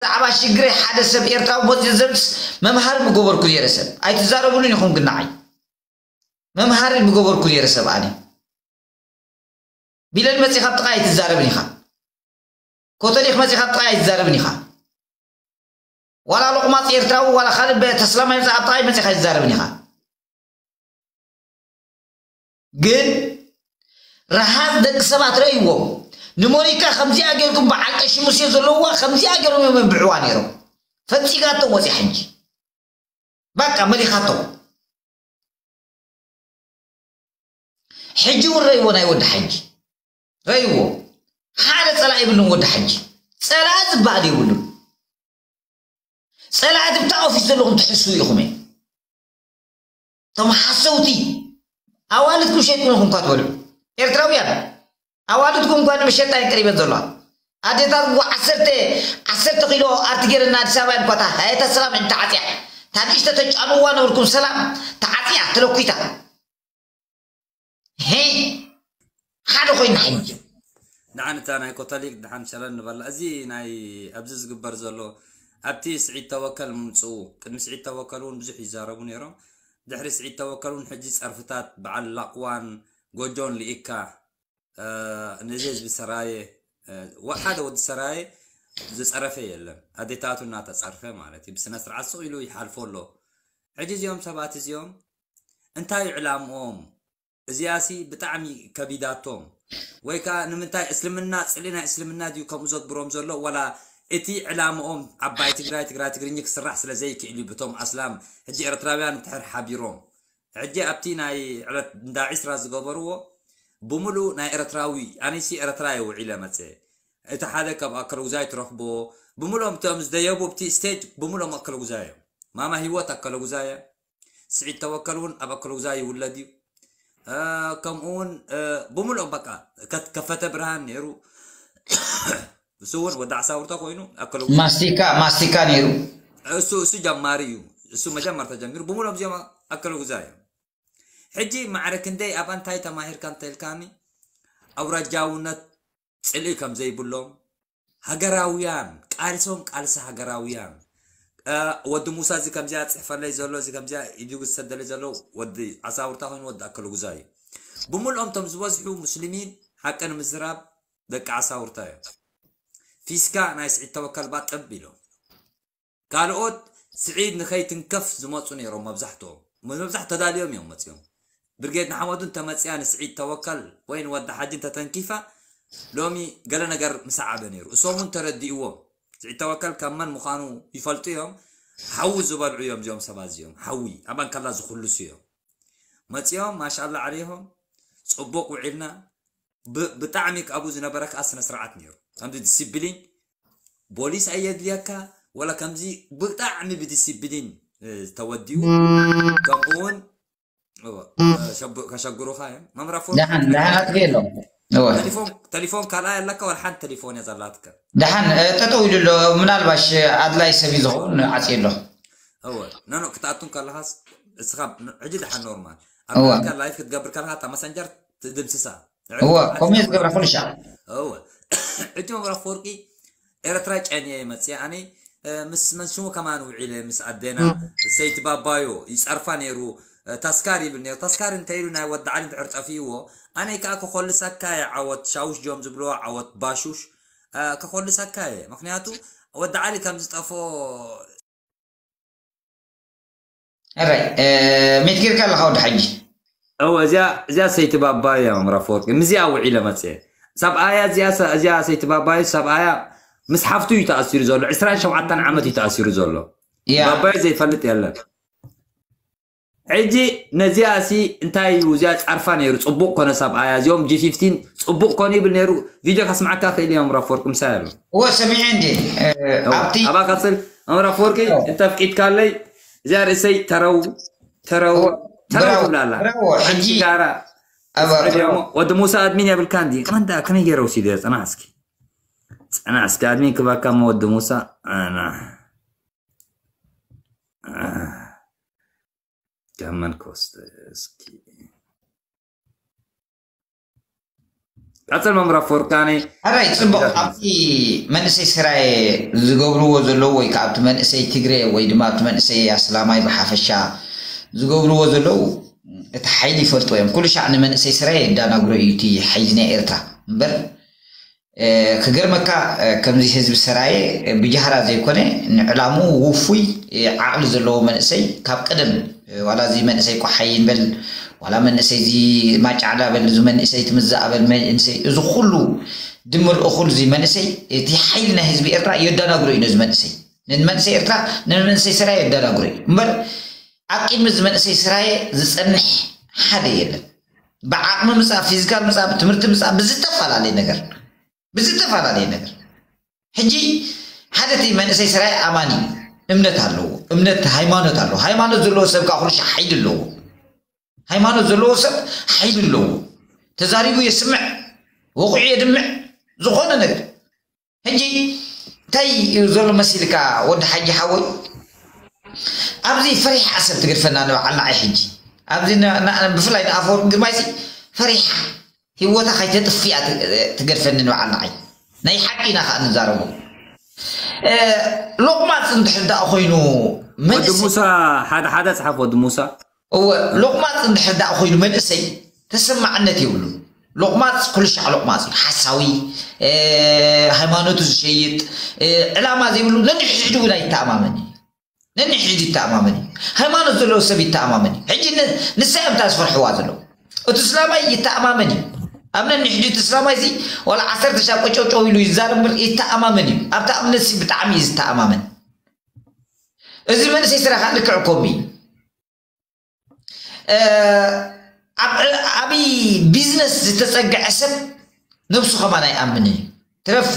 ብዛዕባ ሽግረ ሓደ ሰብ ኤርትራዊ መጺኡ ዘምጽስ መምሃሪ ምገበርኩ ኔረ ሰብ ኣይትዛረብሉን ኢኹም ግን ንዓይ መምሃሪ ምገበርኩ ኔረ ሰብ ኣነ ቢለን መጺኻ ኣብ ጥቓይ ኣይትዛረብን ኢኻ ኮተሊኽ መጺኻ ኣብ ጥቓይ ኣይትዛረብን ኢኻ ዋላ ሎቕማጽ ኤርትራዊ ዋላ ካልእ ተስላማይ መጽ ኣብ ጥቓይ መጺኻ ኣይትዛረብን ኢኻ ግን ረሃጽ ደቂ ሰባት ረእይዎም ንሞኒካ ከምዚኣ ጌርኩም በዓል ቀሺ ሙሴ ዘለውዋ ከምዚኣ ጌሮም እዮም የንብዕዋ ነይሮም ፈንጺጋቶም ወጺያ ሕጂ በቃ መሊኻቶም ሕጂ እውን ረእይዎ ናይ ወዲ ሓጂ ረእይዎ ሓደ ጸላኢ ይብልን ወዲ ሓጂ ጸላኢ ዝበሃል የብሉን ጸላኢ ድብታ ኦፊስ ዘለኹም ትሕስቡ ኢኹም እቶም ሓሰውቲ ኣዋልድኩም ሸይጥኩም ኢኹም እኳ ትበልዑ ኤርትራውያን ኣዋልድኩም እኳ ንመሸጣ እየን ቀሪበን ዘለዋ ኣዴታት እኳ ዓሰርተ ዓሰርተ ኪሎ ኣርቲ ገይረን ኣዲስ ኣበባ እየን እኳ እታ ሃየታ ሰላም ዕድ ተዓፅያ እታ ንእሽተ ተጫንዋ ነበርኩም ሰላም ተዓፅያ ተለኲታ ሄይ ሓደ ኮይና ሓይንጅ ድሓን እታ ናይ ኮታሊክ ድሓን ሸረን ንበላ እዚ ናይ ኣብዚ ዝግበር ዘሎ ኣብቲ ስዒድ ተወከል ምምፅኡ ቅድሚ ስዒድ ተወከል እውን ብዙሕ ይዛረቡ ነይሮም ድሕሪ ስዒድ ተወከል እውን ሕጂ ፀርፍታት በዓል ላቕዋን ጎጆን ልኢካ ነዚ ህዝቢ ሰራየ ሓደ ወዲ ሰራየ ዝፀረፈ የለን ኣዴታቱ እናተፀርፈ ማለት እዩ ብስነ ስርዓት ስቕ ኢሉ ይሓልፎ ኣሎ ሕጂ እዚኦም ሰባት እዚኦም እንታይ ዕላምኦም እዚኣሲ ብጣዕሚ ከቢዳቶም ወይ ከኣ ንምንታይ እስልምና ጽልኢ ናይ እስልምና ድዩ ከምኡ ዘግብሮም ዘሎ ወላ እቲ ዕላምኦም ዓባይ ትግራይ ትግራይ ትግርኚ ክስራሕ ስለ ዘይክእል እዩ ብቶም ኣስላም ሕጂ ኤርትራውያን እንድሕር ሓቢሮም ሕጂ ኣብቲ ናይ ዕለት እንዳ ዒስራ ዝገበርዎ ብምሉ ናይ ኤርትራዊ ኣነሲ ኤርትራ እየ ውዒለ መጸ እቲ ሓደ ካብ ኣከለጉዛይ ትረኽቦ ብምሎም እቶም ዝደየቡ ኣብቲ ስቴጅ ብምሎም ኣከለጉዛይ እዮም ማማ ሂወት ኣከለጉዛይ እያ ስዒድ ተወከል እውን ኣብ ኣከለጉዛይ ይውለድ እዩ ከምኡ እውን ብምልኦ በቃ ከፈተ ብርሃን ነይሩ እሱ እውን ወዲ ዓሳውርተ ኮይኑ ኣከለጉዛ ማስቲካ ማስቲካ ነይሩ እሱ እሱ ጀማሪ እዩ እሱ መጀመርታ ጀሚሩ ብምልኦም እዚኦም ኣከለጉዛ እዮም ሕጂ ማዕረ ክንደይ ኣብ እንታይ ተማሂርካ እንተልካኒ ኣውራጃውነት ፅልኢ ከም ዘይብሎም ሃገራውያን ቃልሶም ቃልሲ ሃገራውያን ወዲ ሙሳ እዚ ከምዚኣ ጽሕፈለይ ዘሎ እዚ ከምዚኣ ኢዱ ዝሰደለይ ዘሎ ወዲ ዓሳውርታ ኮይኑ ወዲ ኣከለጉዛ እዩ ብምልኦም ቶም ዝበዝሑ ሙስሊሚን ሓቂ ንምዝራብ ደቂ ዓሳውርታ እዮም ፊስካ ናይ ስዒድ ተወከልባ ጥብ ኢሎም ካልኦት ስዒድ ንከይትንከፍ ዝመጹ ነይሮም መብዛሕትኦም። መብዛሕትኦም ተዳልዮም እዮም መጺኦም። ብርጌድ ንሓመዱ እንተመጺኣ ንስዒድ ተወከል ወይ ንወዲ ሓጂ እንተተንኪፋ ሎሚ ገለ ነገር ምሰዓበ ነይሩ። እሶም እውን ተረዲእዎም። ስዒድ ተወከል ካብ መን ምዃኑ ይፈልጡ እዮም። ሓዊ ዝበልዑ እዮም እዚኦም ሰባት እዚኦም። ሓዊ ኣብ ኣንካላ ዝኹልሱ እዮም። መጺኦም ማሻላ ዓሌሆም ጽቡቕ ውዒልና ብ ብጣዕሚ ኣብኡ ዝነበረ ከኣ ስነ ስርዓት ኔሩ ከምዚ ድሲብሊን ቦሊስ ኣየድልየካ ወላ ከምዚ ብጣዕሚ ብድሲብሊን ተወዲኡ ከምኡ ውን እወ ሸብ ከሸግሩኻ እዮም መምህር ኣፎርቂ ደሓን ደሓን ኣጥፊእ ኣሎ እወ ተሊፎን ተሊፎን ካልኣይ ኣለካ ወላ ሓንቲ ተሊፎን እያ ዘላትካ ደሓን እ፣ ጠጠው ኢሉ ኣሎ ምናልባሽ ኣድላይ ሰብ እዩ ዝኸውን ዓፅዩ ኣሎ እወ ኖኖ ክትኣቱን ከለኻስ እስኻ ን- ሕጂ ደሓን ኖርማል ኣብ እወ ናትካ ላይፍ ክትገብር ከለኻ እታ መሰንጀር ትድምስሳ እወ ከምኡ እየ ዝገብራ ኩሉ ሻዕ እወ ዕቲ መብራ ክወርቂ ኤርትራ ጨንየ መፅየ ኣነ ምስ መንሽሙ ከማን ውዒለ ምስ ኣዴና ሰይቲ ባባዮ ይፀርፋ ነይሩ ታስካር ይብል ነይሩ ታስካር እንታይ ኢሉ ናይ ወዲ ዓሊ እንድሕር ጠፊእዎ ኣነ ከዓ ከኮልሰካ እየ ዓወት ሻውሽ ጆም ዝብልዎ ዓወት ባሹሽ ከኮልሰካ እየ ምክንያቱ ወዲ ዓሊ ከም ዝጠፍኦ እረይ ሚት ጌርካ ኣለኻ ወዲ ሓጂ እወ እዚኣ እዚኣ ሰይቲ ባባይ እያ መምህር ኣፈወርቂ ምስዚኣ ውዒለ መፀ ሰብኣያ እዚኣ ሰ- እዚኣ ሰይቲ ባባይ ሰብኣያ ምስ ሓፍቱ እዩ ተኣሲሩ ዘሎ 27 ዓመት እዩ ተኣሲሩ ዘሎ ያ ባባይ ዘይፈልጥ የለን ሕጂ ነዚኣ ሲ እንታይ እዩ እዚኣ ፃርፋ ነይሩ ፅቡቅ ኮነ ሰብኣያ እዚኦም ጂ 15 ፅቡቅ ኮነ ይብል ነይሩ ቪድዮ ካስምዓካ ክእል እዮም ራፎርቅ ምሳይ ኣሎ እወ ሰሚዐ እንዴ እወ ኣብቲ ኣብኣ ቀፅል መምህር ኣፈወርቂ እንተፍቂድካለይ እዚኣ ርእሰይ ተረው ተረው ተረው ብራው ትብላ ኣላ ብራዎ ሓንቲ ሕጂ ጋራ ኣባ ተስዕብ እያ እሞ ወዲ ሙሳ ኣድሚን የብልካን ድዩ መን ደኣ ከመይ ገይረ ወሲዱ እያ ፅናሕ እስኪ ፅናሕ እስኪ ኣድሚን ክባካ እሞ ወዲ ሙሳ ኣና ካብ መን ክወስደ እስኪ ቀፅል መምህር ኣፈወርቃኒ ኣራይ ፅቡቅ ኣብቲ መንእሰይ ስራየ ዝገብርዎ ዘለዉ ወይ ከዓ ኣብቲ መንእሰይ ትግረ ወይ ድማ ኣብቲ መንእሰይ ኣስላማይ ብሓፈሻ ዝገብርዎ ዘለዉ እቲ ሓይሊ ይፈልጥዎ እዮም ኩሉ ሻዕ ንመንእሰይ ስራየ የዳናግሮ እዩ እቲ ሓይሊ ናይ ኤርትራ እምበር ክገርመካ ከምዚ ህዝቢ ሰራየ ብጃህራ ዘይኮነ ንዕላምኡ ውፉይ ዓቕሊ ዘለዎ መንእሰይ ካብ ቀደም ዋላ እዚ መንእሰይ ቆሓይን በል ዋላ መንእሰይ እዚ ማጫዕዳ በል እዚ መንእሰይ ትምዛኣ በል መንእሰይ እዚ ኩሉ ድምር እኹል እዚ መንእሰይ እቲ ሓይሊ ናይ ህዝቢ ኤርትራ የዳናግሮ እዩ ነዚ መንእሰይ ንመንእሰይ ኤርትራ ንመንእሰይ ሰራየ የዳናግሮ እዩ እምበር ኣብ ቅድሚ እዚ መንእሰይ ሰራየ ዝጸንሕ ሓደ የለን። ብዓቕሚ ምፃ ፊዚካል ምፃ ብትምህርቲ ምፃ ብዝተፈላለየ ነገር ብዝተፈላለየ ነገር ሕጂ ሓደ እቲ መንእሰይ ስራይ ኣማኒ እዩ እምነት ኣለዎ እምነት ሃይማኖት ኣለዎ ሃይማኖት ዘለዎ ሰብ ከዓ ኩሉ ሻዕ ሓይሊ ኣለዎ ሃይማኖት ዘለዎ ሰብ ሓይሊ ኣለዎ ተዛሪቡ የስምዕ ወቑዑ የድምዕ ዝኾነ ነገር ሕጂ ታይ እዩ ዘሎ መሲልካ ወዲ ሓጂ ሓወይ ኣብዚ ፈሪሓ ዓሰብ ትገድፈና ንበዓልና ዓይ ሕጂ ኣብዚ ብፍላይ ንኣፈወርቂ ግርማይሲ ፈሪሓ ሂወታ ከይተጥፊኣ ትገድፈኒ ንበዓልና ዓይ ናይ ሓቂ ኢና ከዓ ንዛረቡ ሎቕማፅ እንድሕር ደኣ ኮይኑ ወዲ ሙሳ ሓደ ሓደ ፅሓፍ ወዲ ሙሳ እወ ሎቅማጽ እንድሕር ዳኣ ኮይኑ መንእሰይ ተሰማዕነት የብሉን ሎቅማጽ ኩልሻዕ ሎቅማጽ እዩ ሓሳዊ ሃይማኖቱ ዝሸይጥ ዕላማ ዘይብሉ ነንሕድሕዱ እውን ኣይተኣማመን እዩ ነንሕድሕዱ ይተኣማመን እዩ ሃይማኖት ዘለዎ ሰብ ይተኣማመን እዩ ሕጂ ንሳ እዮም እታ ዝፈርሕዋ ዘለዉ እቲ እስላማይ ይተኣማመን እዩ ኣብ ነንሕድሕዱ እቲ እስላማይ እዚ ዋላ ዓሰርተ ሻብ ቆጨውጨው ኢሉ ይዛረብ እምበር ይተኣማመን እዩ ኣብታ እምነት ብጣዕሚ እዩ ዝተኣማመን እዚ መንእሰይ ስረኻ ልክዕ ኮፒ ኣብይ ቢዝነስ ዝተፀግዐ ሰብ ነብሱ ከማን ኣይኣምንን እዩ ትረፍ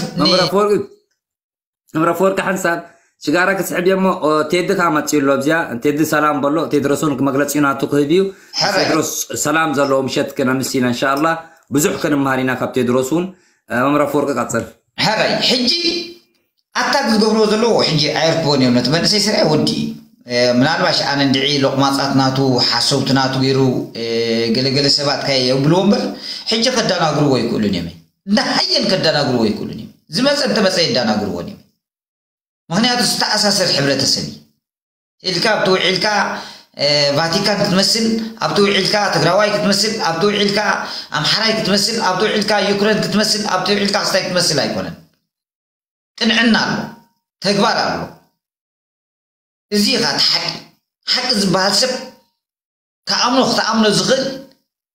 እምረ ፈወርቂ ሓንሳብ ሽጋራ ክትስሕብ እሞ ቴዲ ከዓ መፅኡ ኣሎ ኣብዚኣ ቴዲ ሰላም በሎ ቴድሮስን መግለፂ ናቱ ክህብ እዩ ቴድሮስ ሰላም ዘለዎ ምሸት ክነምስ ኢና እንሻ ኣላ ብዙሕ ክንመሃር ኢና ካብ ቴድሮስ እውን መምረ ፈወርቂ ቀፅል ሕራይ ሕጂ ኣታክ ዝገብርዎ ዘለዉ ሕጂ ኣየርክቦን ኢዮም ነቲ መንእሰይ ስርዐ ወዲ ኢዩ ምናልባሽ ኣነ እንድዒ ሎቅማጻት ናቱ ሓሰውቲ ናቱ ጌሩ ገለ ገለ ሰባት ካይ የብልዎ እምበር ሕጂ ከዳናግርዎ ኣይክእሉን ኢዮም እንዳ ሃየን ከዳናግርዎ ኣይክእሉን ኢዮም ዝመጸ እንተመጸ የዳናግርዎን ኢዮም ምክንያቱ ዝተኣሳሰር ሕብረተሰብ ኢዩ። ኢልካ ኣብቲ ውዒልካ ቫቲካን ክትመስል ኣብቲ ውዒልካ ትግራዋይ ክትመስል ኣብቲ ውዒልካ ኣምሓራይ ክትመስል ኣብቲ ውዒልካ ዩክሬን ክትመስል ኣብቲ ውዒልካ ክስታይ ክትመስል ኣይኮነን ቅንዕና ኣሎ ተግባር ኣሎ እዚ ኢኻ እቲ ሓቂ ሓቂ ዝበሃል ሰብ ክኣምኖ ክትኣምኖ ዝኽእል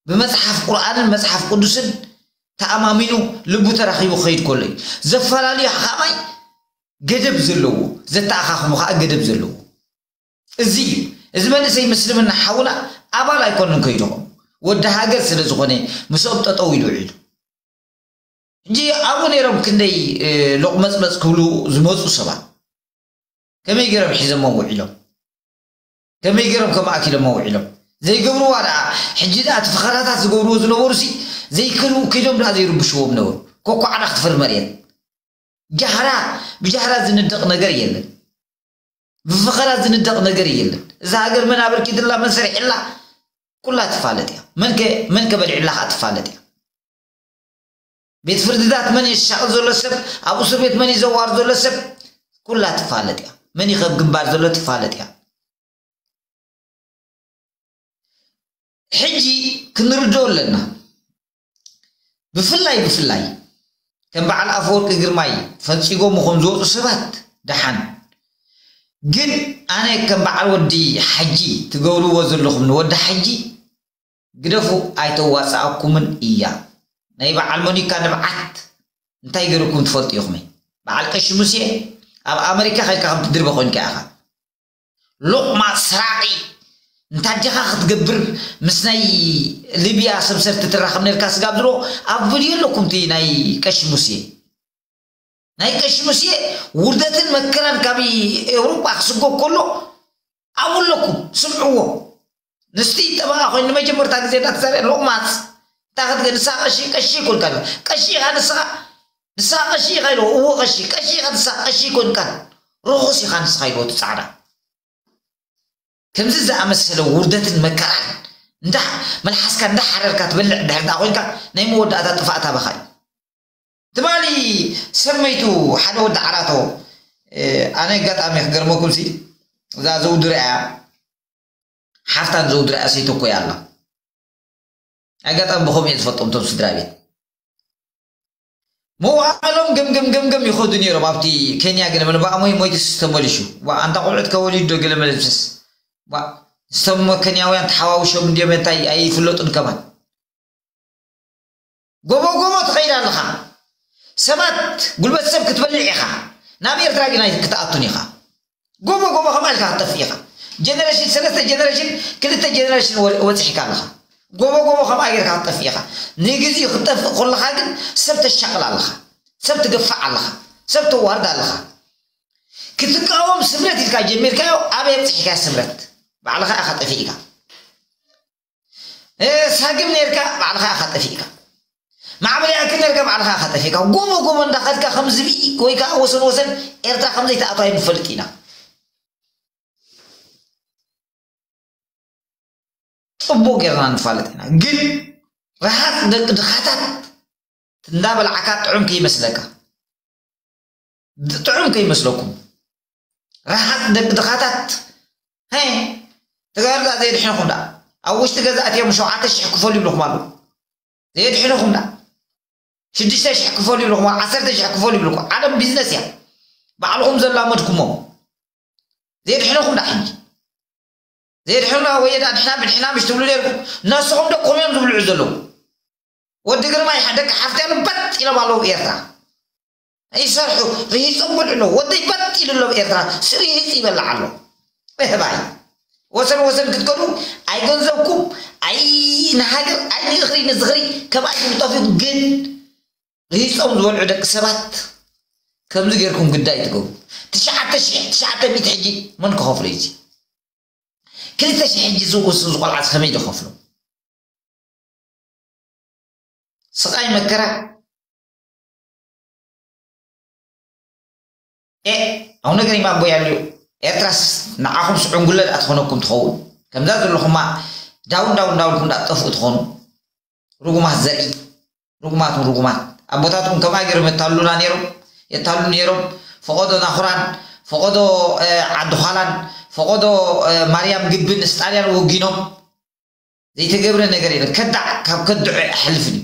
ብመጽሓፍ ቁርኣንን መጽሓፍ ቅዱስን ተኣማሚኑ ልቡ ተራኺቡ ክኸይድ ከሎ እዩ ዘፈላለዩ ሓኻማይ ገደብ ዘለዎ ዘተኣኻኽሙ ከዓ ገደብ ዘለዎ እዚ እዩ እዚ መንእሰይ ምስልምና ሓውና ኣባል ኣይኮንን ከይድኹም ወዲ ሃገር ስለ ዝኾነ ምስኦም ጠጠው ኢሉ ውዒሉ እንጂ ኣብኡ ነይሮም ክንደይ ሎቕመፅመፅ ክብሉ ዝመፁ ሰባት ከመይ ገይሮም ሒዘሞ ውዒሎም ከመይ ጌሮም ከም ኣኪሎማ ውዒሎም ዘይገብርዋ ደኣ ሕጂ ደኣ እቲ ፈኸራታት ዝገብርዎ ዝነበሩሲ ዘይከልኡ ከይዶም ደኣ ዘይርብሽዎም ነበሩ ኮኳዕዳ ክትፈሪ መርየት ጃህራ ብጃህራ ዝንደቕ ነገር የለን ብፈኸራ ዝንደቕ ነገር የለን እዛ ሃገር መን ኣበርኪትላ መን ሰሪሕላ ኩላ ትፋለጥ እያ መንከ መንከ በሊዕላ ከኣ ትፋለጥ እያ ቤት ፍርድታት መን እዩ ዝሻቕል ዘሎ ሰብ ኣብ እሱር ቤት መን እዩ ዘዋር ዘሎ ሰብ ኩላ ትፋለጥ እያ መን እዩ ከብ ግንባር ዘሎ ትፋለጥ እያ ሕጂ ክንርድኦ ኣለና ብፍላይ ብፍላይ ከም በዓል ኣፈወርቂ ግርማይ ፈንፂጎም ኹም ዝወፁ ሰባት ደሓን ግን ኣነ ከም በዓል ወዲ ሓጂ ትገብርዎ ዘለኹም ንወዲ ሓጂ ግደፉ ኣይተዋጽኣኩምን እያ ናይ በዓል ሞኒካ ንብዓት እንታይ ገሩኩም ትፈልጡ ኢኩመ በዓል ቀሺ ሙሴ ኣብ ኣመሪካ ከድካ ከምቲ ድርበ ኮይንካ ኢካ ሎቅማጽ ሰራቂ እንታዴካ ክትገብር ምስ ናይ ልብያ ሰብሰርቲ ትራከብ ነርካ ስጋብ ድሮ ኣብ ቭድዮ ኣለኩም እቲ ናይ ቀሺ ሙሴ ናይ ቀሺ ሙስየ ውርደትን መከራን ካብ ኤውሮጳ ክስጎግ ከሎ ኣብኡ ኣለኩም ስምዕዎ ንስቲ ጠበቓ ኮይኑ ንመጀመርታ ግዜ እዳ ተዛርየ ሎቕማጽ እንታይ ክትገ ንስኻ ቀሺ ቀሺ ኮንካ ኢልካ ቀሺ ኢኻ ንስኻ ንስኻ ቀሺ ኢኻ ኢልዎ እዎ ቀሺ ቀሺ ኢኻ ንስኻ ቀሺ ኮንካን ርኹስ ኢኻ ንስኻ ኢልዎ ትጻዕዳ ከምዚ ዝኣመሰለ ውርደትን መከራን እንዳ መልሓስካ እንዳሓረርካ ትበልዕ እንድሕር ደኣ ኮይንካ ናይ መወዳእታ ጥፋእት ኣባኻ እዩ ትማሊ ሰብ መይቱ ሓደ ወዲ ዓራቶ ኣነ ኣጋጣሚ ክገርመኩም ሲ እዛ ዘውድርያ እያ ሓፍታን ዘውድርያ ሰይተኮያ ኣላ ኣጋጣሚ ብከምኡ እየ ዝፈልጦም ቶም ስድራ ቤት መዋዕሎም ገምገም ገምገም ይኸዱ ነይሮም ኣብቲ ኬንያ ግን ምንባኣ ሞይ ሞይትስ ዝተመልሹ ኣንታ ቆልዑት ከወሊዱ ዶ ገለ መለብስስ ዝተመ ኬንያውያን ተሓዋውሾም እንዲዮም እንታይ ኣይፍለጡን ከማን ጎቦ ጎቦ ትኸይድ ኣለኻ ሰባት ጉልበት ሰብ ክትበልዕ ኢኻ ናብ ኤርትራ ግን ኣይክትኣቱን ኢኻ ጎቦ ጎቦ ከምኣ ኢልካ ክትጠፍእ ኢኻ ጀነሬሽን ሰለስተ ጀነሬሽን ክልተ ጀነሬሽን ወፅሒካ ኣለኻ ጎቦ ጎቦ ከምኣ ጌርካ ክትጠፍእ ኢኻ ንግዚኡ ክትጠፍእ ኮለኻ ግን ሰብ ተሻቕል ኣለኻ ሰብ ትገፋዕ ኣለኻ ሰብ ተዋርድ ኣለኻ ክትቃወም ስምረት ኢልካ ጀሚርካዮ ኣበይ ኣብፅሒካዮ ስምረት ባዕልኻ ኢኻ ጠፊእካ ሳግም ነርካ ባዕልኻ ኢኻ ጠፊእካ ማዕበል ያእክል ነርካ ባዕልኻ ኢኻ ጠፊእካ ጎቦ ጎቦ እንዳኸድካ ከም ዝብኢ ወይ ከዓ ወሰን ወሰን ኤርትራ ከም ዘይትኣቱ ኣይንፈልጥ ኢና ፅቡቅ ጌርና ንፋለጥ ኢና ግን ረሃፅ ደቂ ድኻታት እንዳበላዕካ ጥዑም ከይመስለካ ጥዑም ከይመስለኩም ረሓት ደቂ ድኻታት ሀይ ተጋርዛ ዘየድሕንኹም ዳ ኣብ ውሽጢ ገዛ ኣትዮም ሸውዓተ ሽሕ ክፈሉ ይብልኹም ኣለዉ ዘየድሕንኹም ዳ ሽዱሽተ ሽሕ ክፈሉ ይብልኹም ዓሰርተ ሽሕ ክፈሉ ይብልኩ ዓለም ቢዝነስ እያ ባዕልኹም ዘላመድኩሞ ዘየድሕንኹም ዳ ሕጂ ዘየድሕኑና ወየዳ ድሕና ብድሕና ምሽ ትብሉ ነርኩም ነስኹም ደቅኹም እዮም ዝብልዑ ዘለዉ ወዲ ግርማ ደቂ ሓፍትያ ልበጥ ኢሎም ኣለዉ ኤርትራ ይሰርሑ ይጽንቡሉ ኣለዉ ወደይ በጥ ኢሉ ኣሎ ኣብ ኤርትራ ስሪህጽ ይበልዕ ኣሎ እህባይ ወሰን ወሰን ክትከዱ ኣይ ገንዘብኩም ኣይ ንሃገር ኣይ ንእኽሪ ንዝኽሪ ከም ኣይኩም ጠፊኡ ግን ርሂጾም ዝበልዑ ደቂ ሰባት ከምዚ ጌርኩም ግዳይ ትገብሩ ትሽዓተ ሽሕ ትሽዓተ ሚእቲ ሕጂ መን ክኸፍሎ እዩ ክልተ ሽሕ ሕጂ ዝውስን ዝቆልዓስ ከመይ ዝኸፍሎ ስቓይ መከራ ኤእ ኣቡነ ገሪማ ኣቦይ ኣልዩ ኤርትራስ ንዓኹም ስዑንጉለ ድኣ ትኾነኩም ትኸውን ከምዛ ዘለኹማ ዳውን ዳውን እንዳበልኩም ድኣ ትጠፍኡ ትኾኑ ርጉማት ዘርኢ ርጉማት ንርጉማት ኣቦታትኩም ከምኣ ገይሮም የታሉና ነይሮም የታሉ ነይሮም ፈቐዶ ናኹራን ፈቐዶ ዓዲ ኋላን ፈቐዶ ማርያም ግብን ስጣልያን ወጊኖም ዘይተገብረ ነገር የለን ከዳዕ ካብ ከድዑ ኣይሓልፍን እዩ